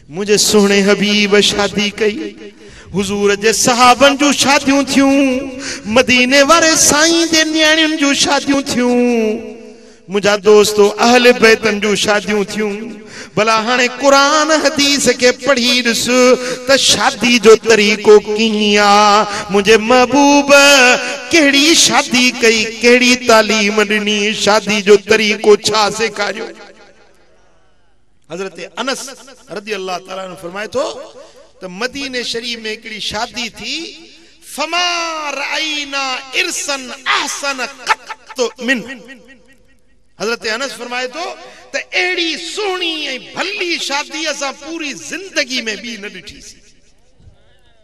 منهنجي سهڻي حبيب شادي ڪئي حضور جي صحابن جون شاديون ٿيون مديني واري سائين جي نياڻين جون شاديون ٿيون منهنجا دوستو اهل بيتن جون شاديون ٿيون بلا هاڻي قرآن حديث کي پڙهي ڏس ته شادي جو طريقو ڪيئن آ منهنجي محبوب ڪهڙي شادي ڪئي ڪهڙي تعليم ڏني شادي جو طريقو ڇا سيکاريو حضرت انس رضي الله تعالٰي عنه فرمائي ٿو ته مديني شريف ۾ هڪڙي شادي ٿي فما رأينا عرسا احسن قط منه حضرت انس فرمائي ٿو ته اهڙي سهڻي ۽ ڀلي شادي اسان پوري زندگي ۾ ٻي نه ڏٺي سي.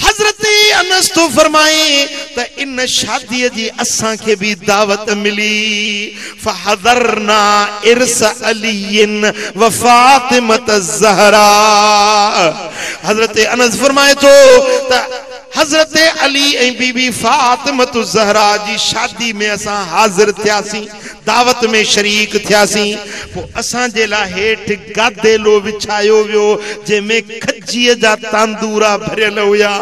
حضرت انس ٿو فرمائي ته ان شاديء جي اسان کي به دعوت ملي، فحضرنا عرس علي وفاطمة الزهراء حضرت انس فرمائي ٿو ته حضرت علي ۽ بي بي فاطمة الزهراء جي شادي ۾ اسان حاضر ٿياسين. دعوت ۾ شريڪ ٿياسين. پوء اسان جي لاء هيٺ گاديلو وڇايو ويو، جنهن ۾ کجيء جا تاندورا ڀريل هيا.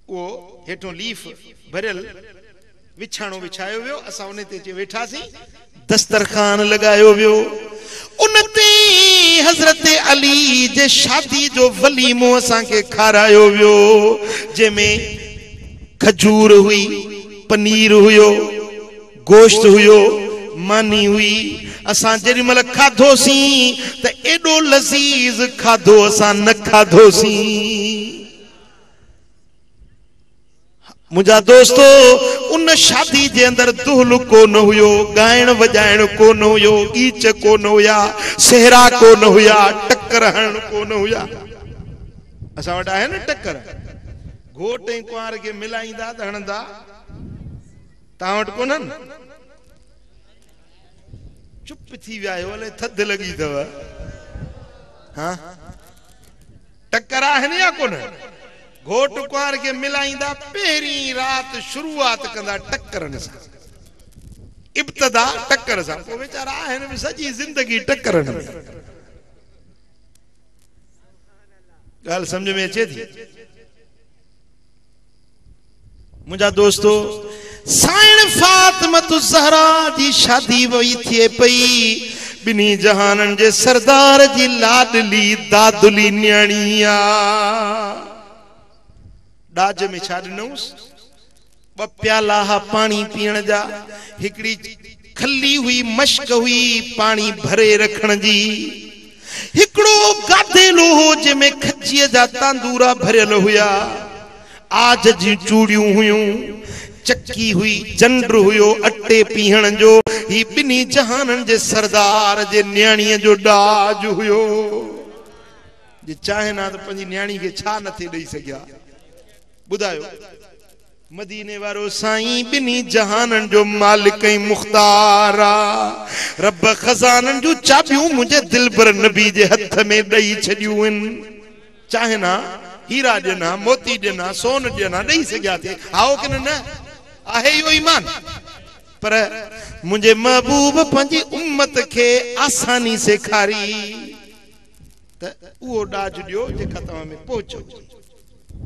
اهو هيٺون ليف ڀريل وڇاڻو وڇايو ويو، اسان انهي تي اچي ويٺاسين. دسترخوان لڳايو ويو، ان تي حضرت علي جي شادي جو وليمو اسان کي کارايو ويو، جنهن ۾ کجور هئي، پنير هيو، گوشت هيو، ماني هئي، اسان جيڏي مهل کاڌوسين ته ايڏو لذيذ کاڌو اسان نه کاڌوسين. منهنجا دوستو! ان شادي جي اندر دهل ڪو نه هيو، ڳائڻ وڄائڻ ڪو نه هيو، ڳيچ ڪو نه هيا، سهرا ڪو نه هيا، ٽڪر هڻڻ ڪو نه هيا. اسان وٽ آهي نه ٽڪر، گهوٽ ۽ ڪنوار کي ملائيندا ته هڻندا، توهان وٽ ڪونهن؟ چپ ٿي ويا آهيو، الائي ٿڌ لڳي اٿو. ها! ٽڪر آهن يا ڪونهن؟ گهوٽ ڪنوار کي ملائيندا پهرين رات شروعات ڪندا ٽڪرن سان. ابتدا ٽڪر سان پوء ويچارا آهن به سڄي زندگي ٽڪرن ۾. ڳالهه سمجهه ۾ اچي ٿي؟ منهنجا دوستو! سائڻ فاطمة الزهرا جي شادي وئي ٿئي پئي، ٻنهي جهانن جي سردار جي لاڏلي دادلي نياڻي آ. ڏاج ۾ ڇا ڏنوس؟ ٻه پيالا ها پاڻي پيئڻ جا، هڪڙي. کلي هئي مشق هئي پاڻي ڀري رکڻ جي. هڪڙو گاديلو هو جنهن ۾ کجيء جا تاندورا ڀريل هيا. عاج جون چوڙيون هيون. چڪي هئي، جنڊ هيو اٽي پيهڻ جو. هي ٻنهي جهانن جي سردار جي نياڻيء جو ڏاج هيو. جي چاهين ها ته پنهنجي نياڻي کي ڇا نه ٿي ڏئي سگهيا. ٻڌايو. مديني وارو سائين ٻنهي جهانن جو مالڪ ۽ مختار آ. رب خزانن جون چاٻيون منهنجي دلبر نبي جي هٿ ۾ ڏئي ڇڏيون ان. چاهين ها هيرا ڏين ها موتي ڏين ها سون ڏين ها ڏئي سگهيا ٿي هائو ڪن نه؟ آهي اهو ايمان؟ پر منهنجي محبوب پنهنجي امت کي آساني سيکاري ته اهو ڏاج ڏيو جيڪا توهان ۾ پهچ هجي.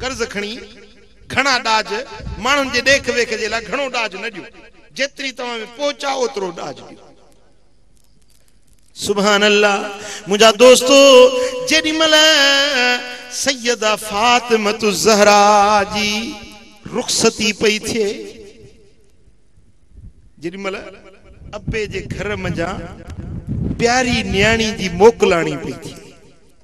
قرض کڻي گهڻا ڏاج، ماڻهن جي ڏيک ويک جي لاء گهڻو ڏاج نه ڏيو، جيتري توهان ۾ پهچ آهي اوترو ڏاج ڏيو. سبحان الله منهنجا دوستو جيڏي مهل سيده فاطمة الزهراء جي رخصتي پئي ٿئي جيڏي مهل ابي جي گهر منجهان پياري نياڻي جي موڪلاڻي پئي ٿئي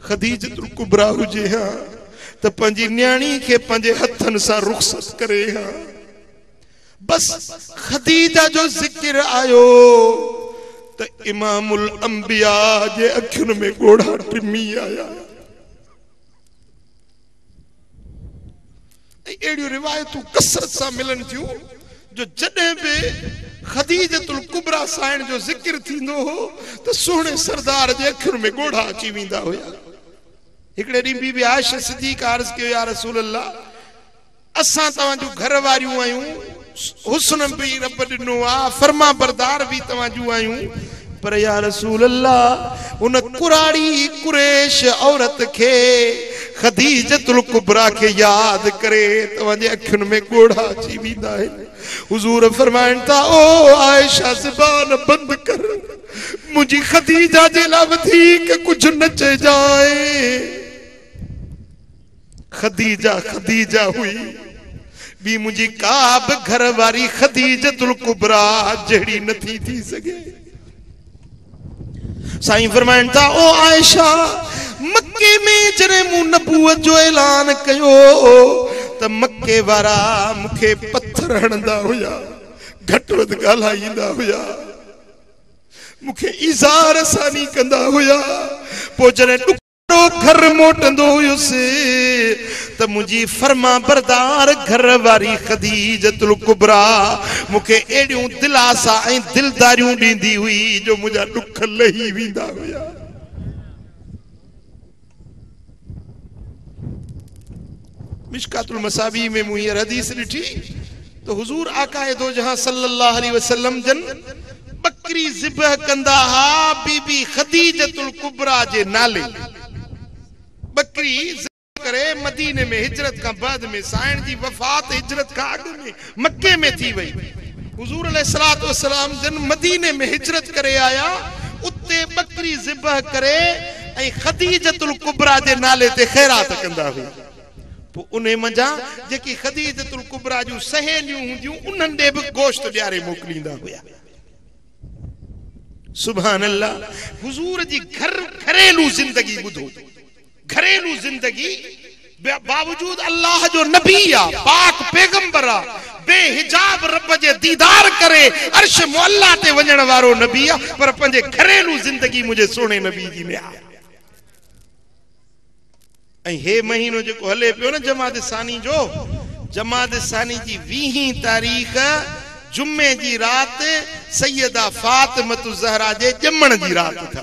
خديجة الڪبريٰ هجي ها ته پنهنجي نياڻي کي پنهنجي هٿن سان رخصت ڪري ها. بس خديجة جو ذڪر آيو ته امام الانبياء جي اکين ۾ ڳوڙها ٽمي آيا. ۽ اهڙيون روايتون ڪثرت سان ملن ٿيون جو جڏهن به خديجة الڪبريٰ سائڻ جو ذڪر ٿيندو هو ته سهڻي سردار جي اکين ۾ ڳوڙها اچي ويندا هيا. هڪڙي ڏينهن بي بي عائشه صديقه عرض ڪيو يا رسول الله! اسان توهان جون گهر واريون آهيون. حسن به رب ڏنو آ فرمانبردار به توهان جون آهيون پر يا رسول الله ان ڪراڙي قريش عورت کي خديجة الڪبريٰ کي ياد ڪري توهان جي اکين ۾ ڳوڙها اچي ويندا آهن حضور فرمائن ٿا او عائشه زبان بند ڪر منهنجي خديجه جي لاء وڌيڪ ڪجهه نه چئجانء. خديجه خديجه هئي، ٻي منهنجي ڪا به گهر واري خديجة الڪبريٰ جهڙي نه ٿي ٿي سگهي. سائين فرمائن ٿا، او عائشه! مڪي ۾ جڏهن مون نبوت جو اعلان ڪيو ته مڪي وارا مون کي پٿر هڻندا هيا، گهٽ وڌ ڳالهائيندا هيا، مون کي ايذاء رساني ڪندا هيا، پوء جڏهن ڏک. مان گهر موٽندو هيس ته منهنجي فرمانبردار گهر واري خديجة الڪبريٰ مون کي اهڙيون دلاسا ۽ دلداريون ڏيندي هئي جو منهنجا ڏک لهي ويندا هيا. مشڪات المصابيح ۾ مون هينئر حديث ڏٺي ته حضور آقاء دوجهان صلّي اللّٰه عليه وسلّم جن ٻڪري ذبح ڪندا ها بي بي خديجة الڪبريٰ جي نالي ٻڪري ذبح ڪري مديني ۾ هجرت کان بعد ۾ سائڻ جي وفات هجرت کان اڳ ۾ مڪي ۾ ٿي وئي. حضور عليه الصلوة والسلام جن مديني ۾ هجرت ڪري آيا، اتي ٻڪري ذبح ڪري ۽ خديجة الڪبريٰ جي نالي تي خيرات ڪندا هئا. پوء انهي منجهان جيڪي خديجة الڪبريٰ جون سهيليون هونديون انهن ڏي به گوشت ڏياري موڪليندا هيا. سبحان الله! حضور جي گهر گهريلو زندگي ٻڌو. گهريلو زندگي باوجود الله جو نبي آ پاڪ پيغمبر آ بي حجاب رب جي ديدار ڪري عرش معليٰ تي وڃڻ وارو نبي آ پر پنهنجي گهريلو زندگي منهنجي سهڻي نبي جي نهاري ڪئي ۽ هي مهينو جيڪو هلي پيو نه جمادي ثاني جو جمادي ثاني جي ويهين تاريخ جمعي جي رات سيده فاطمة الزهرا جي ڄمڻ جي رات اٿو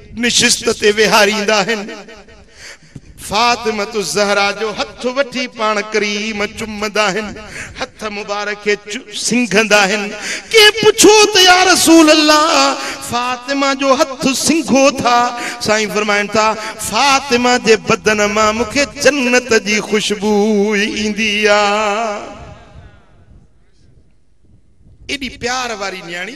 نشست تي ويهاريندا آهن. فاطمة الزهرا جو هٿ وٺي پاڻ ڪريم چمندا آهن، هٿ مبارڪ کي سنگهندا آهن. ڪنهن پڇيو ته يا رسول الله فاطمه جو هٿ سنگهو ٿا؟ سائين فرمائن ٿا، فاطمه جي بدن مان مون کي جنت جي خوشبوء ايندي آ. ايڏي پيار واري نياڻي.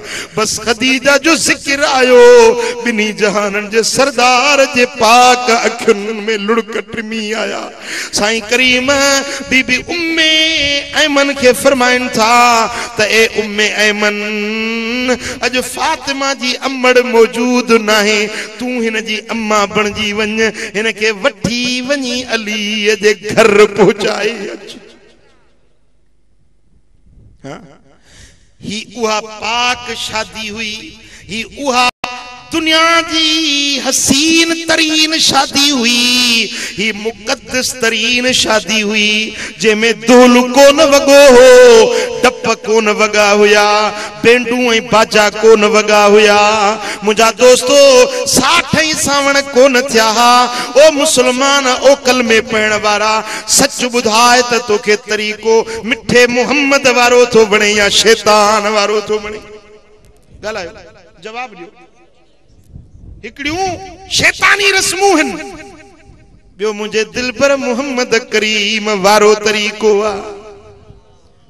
بس خديجه جو ذڪر آيو، ٻنهي جهانن جي سردار جي پاڪ اکين ۾ لڙڪ ٽمي آيا. سائين ڪريم بي بي ام ايمن کي فرمائن ٿا ته اي ام ايمن! اڄ فاطمه جي امڙ موجود ناهي، تون هن جي اما بڻجي وڃ، هن کي وٺي وڃي علي جي گهر پهچائي اچ. هي اها پاڪ شادي هئي، هي اها دنيا جي حسين ترين شادي هئي، هي مقدس ترين شادي هئي، جنهن ۾ دهل ڪونه وڳو هو، ڊپ ڪونه وڳا هيا، بينڊون ۽ باجا ڪونه وڳا هيا. منهنجا دوستو! ساٺ ۽ سانوڻ ڪونه ٿيا ها. او مسلمان، او ڪلمي پڙهڻ وارا، سچ ٻڌاء ته توکي طريقو مٺي محمد وارو ٿو وڻي يا شيطان وارو ٿو وڻي؟ ڳالهايو جواب ڏيو. هڪڙيون شيطاني رسمون هن ٻيو منهنجي دلبر محمد ڪريم وارو طريقو آ.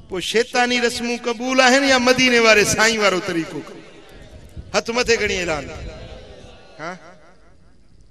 پوء شيطاني رسمون قبول آهن يا مديني واري سائين وارو طريقو قبول؟ هٿ مٿي کڻي اعلان ها